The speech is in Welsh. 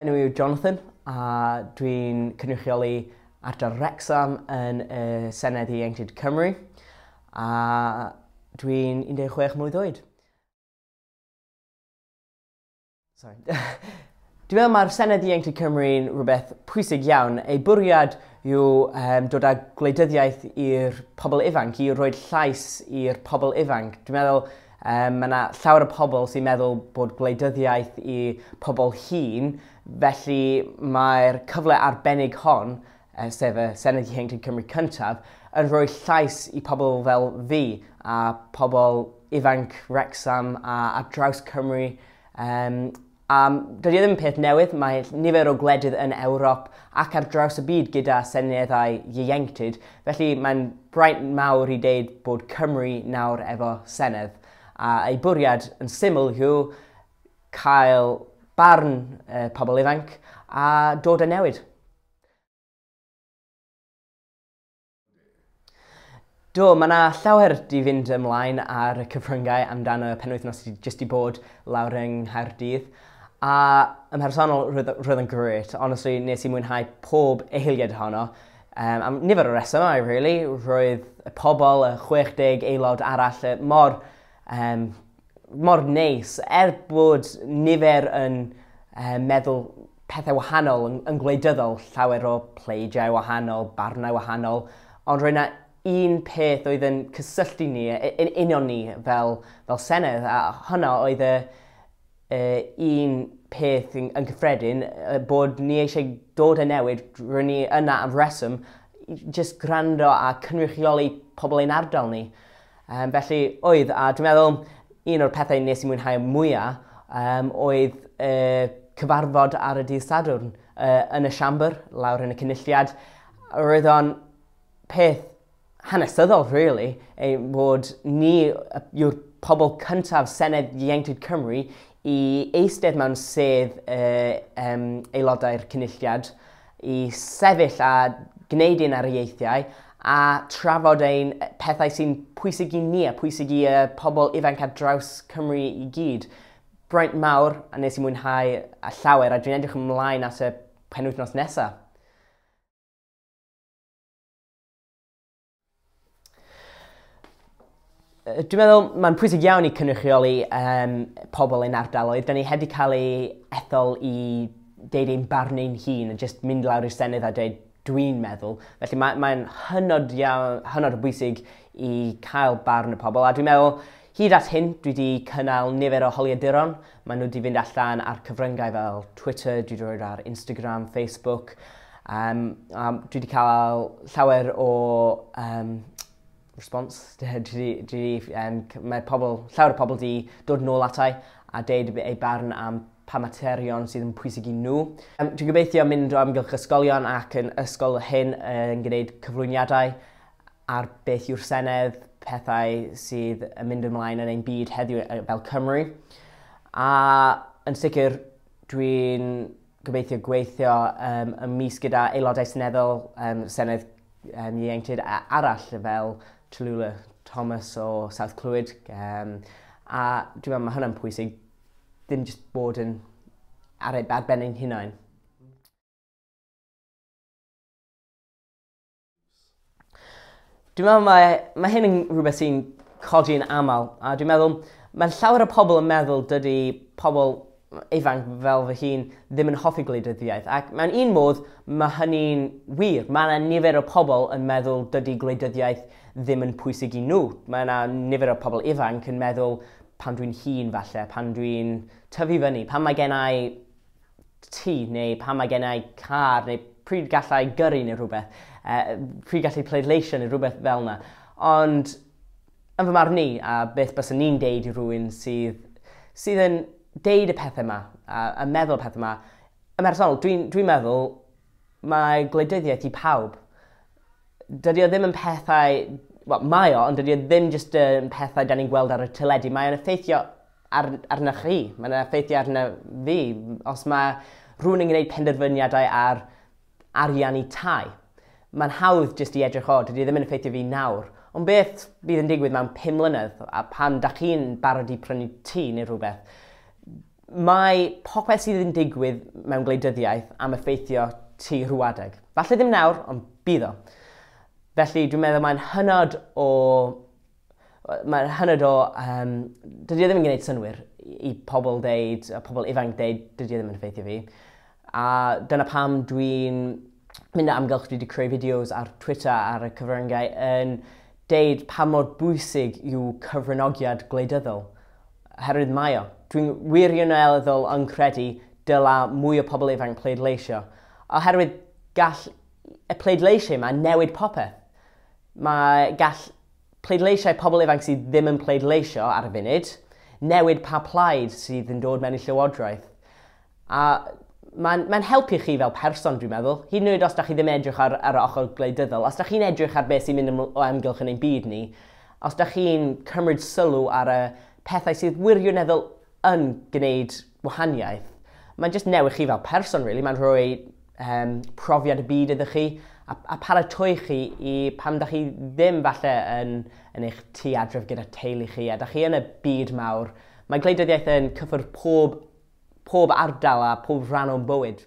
Enw i yw Jonathan a dwi'n cynrychioli ardal Wrexham yn y Senedd Ieuenctid Cymru a dwi'n 16 mlwydd oed. Sorry. Dwi'n meddwl mae'r Senedd Ieuenctid Cymru'n rhywbeth pwysig iawn. Ei bwriad yw um, dod â gwleidyddiaeth i'r pobl ifanc, i roed llais i'r pobl ifanc. Dwi'n meddwl Yym, mae yna llawer o pobl sy'n meddwl bod gwleidyddiaeth i pobl hŷn, felly mae'r cyfle arbennig hon, eh, sef y Senedd Ieuenctid Cymru cyntaf, yn rhoi llais i pobl fel fi a pobl ifanc Wrecsam a ar draws Cymru, um, A dydy e ddim yn peth newydd, mae nifer o gwledydd yn Ewrop ac ar draws y byd gyda seneddau ieuenctid, felly mae'n braint mawr i ddeud bod Cymru nawr efo senedd, a ei bwriad yn syml yw cael barn y pobl ifanc a dod â newid. Do, mae yna llawer di fynd ymlaen ar y cyfryngau amdano y penwythnos sydd jyst di bod lawr yng Nghaerdydd. A ym mhersonol, roedd, roedd yn gret. Honestly, nes i mwynhau pob eiliad ohono. Um, am nifer o resymau, really. Roedd y pobl, y 60 aelod arall, mor um, mor neis, er bod nifer yn uh, meddwl pethau wahanol yn, yn gwleidyddol, llawer o pleidiau wahanol, barnau wahanol, ond roedd yna un peth oedd yn cysylltu ni, yn union ni fel, fel Senedd, a hwnna oedd y, y un peth yn, yn cyffredin, bod ni eisiau dod y newid, roedd ni yna am reswm, jyst gwrando a cynrychioli pobl ein ardal ni. Um, felly oedd, a dwi'n meddwl un o'r pethau nes i mwynhau mwyaf um, oedd uh, cyfarfod ar y dydd Sadwrn uh, yn y siambr, lawr yn y cynulliad. Roedd o'n peth hanesyddol, really, ei bod ni yw'r pobl cyntaf Senedd Ieuenctid Cymru i eistedd mewn sedd uh, um, aelodau'r cynulliad i sefyll a gwneud ein ariaethiau a trafod ein pethau sy'n pwysig i ni a pwysig i y pobl ifanc ar draws Cymru i gyd. Braint mawr a nes i mwynhau a llawer a dwi'n edrych ymlaen at y penwythnos nesaf. Dwi'n meddwl mae'n pwysig iawn i cynrychioli um, pobl yn ardaloedd. Da ni wedi cael ei ethol i deud ein barn ein hun a jyst mynd lawr i'r Senedd a dweud dwi'n meddwl. Felly mae'n mae, mae hynod, iawn, hynod o bwysig i cael barn y pobl. A dwi'n meddwl, hyd at hyn, dwi wedi cynnal nifer o holiaduron Maen nhw 'di fynd allan ar cyfryngau fel Twitter, dwi 'di rhoi ar Instagram, Facebook, um, a dwi 'di cael llawer o um, response. Dwi, dwi, dwi, um, mae pobl, llawer o pobl 'di dod nôl atai a deud eu barn am pa materion sydd yn pwysig i nhw. Um, dwi'n gobeithio mynd o amgylch ysgolion ac yn ysgol hyn yn gwneud cyflwyniadau ar beth yw'r Senedd, pethau sydd yn mynd ymlaen yn ein byd heddiw fel Cymru. A yn sicr, dwi'n gobeithio gweithio um, y mis gyda aelodau seneddol um, Senedd um, Ieuenctid arall fel Tallulah Thomas o South Clwyd. Um, a dwi'n meddwl mae hwnna'n pwysig, ddim jyst bod yn ar, ar ben ein hunain. Dwi'n meddwl mae, mae hyn yn rhywbeth sy'n codi yn aml, a dwi'n meddwl mae llawer o pobl yn meddwl dydy pobl ifanc fel fy hun ddim yn hoffi gwleidyddiaeth. Ac mewn un modd, mae hynny'n wir. Mae yna nifer o pobl yn meddwl dydy gwleidyddiaeth ddim yn pwysig i nhw. Mae yna nifer o pobl ifanc yn meddwl pan dwi'n hun falle, pan dwi'n tyfu fyny, pan mae gen i tŷ neu pan mae gennau car neu pryd galla i gyrru neu rhywbeth, uh, pryd gallu pleidleisio neu rhywbeth fel yna. Ond yn fy marn ni, a beth bys ni'n deud i rhywun sydd, sydd yn deud y pethau yma, a, a meddwl y pethau yma, yn personol, dwi'n dwi meddwl mae gwleidyddiaeth i pawb. Dydy o ddim yn pethau... Wel, mae o, ond dydy o ddim jyst yn pethau da ni'n gweld ar y teledu. Mae'n effeithio ar, arna chi, mae'n effeithio arna fi. Os mae rhywun yn gwneud penderfyniadau ar ariannu tai, mae'n hawdd jyst i edrych o, dydy e ddim yn effeithio fi nawr. Ond beth bydd yn digwydd mewn pum mlynedd, a pan da chi'n barod i prynu tŷ neu rhywbeth? Mae popeth sydd yn digwydd mewn gwleidyddiaeth am effeithio ti rhywedeg. Falle ddim nawr, ond bydd o. Felly dwi'n meddwl mae'n hynod o Mae'r hynod o... Um, dydy e ddim yn gwneud synwyr i pobl deud, a pobl ifanc deud, dydy e ddim yn effeithio fi. A dyna pam dwi'n mynd am amgylch, dwi wedi creu fideos ar Twitter ar y cyfryngau yn deud pa mor bwysig yw cyfranogiad gwleidyddol. Herwydd mae o. Dwi'n wirioneddol yn credu dyla mwy o pobl ifanc pleidleisio. Oherwydd gall y pleidleisio yma newid popeth. Mae gall Pleidleisiau pobl ifanc sydd ddim yn pleidleisio ar y funud, newid pa plaid sydd yn dod mewn i llywodraeth. A mae'n mae helpu chi fel person, dwi'n meddwl, hyd yn oed os da chi ddim edrych ar, ar y ochr gwleidyddol, os da chi'n edrych ar beth sy'n mynd yn o amgylch yn ein byd ni, os da chi'n cymryd sylw ar y pethau sydd wirioneddol yn gwneud wahaniaeth. Mae'n just newid chi fel person, really. Mae'n rhoi um, profiad y byd ydych chi a, a paratoi chi i pam da chi ddim falle yn, yn eich tu adref gyda teulu chi a da chi yn y byd mawr. Mae gwleidyddiaeth yn cyffwrdd pob, pob ardal a pob rhan o'n bywyd.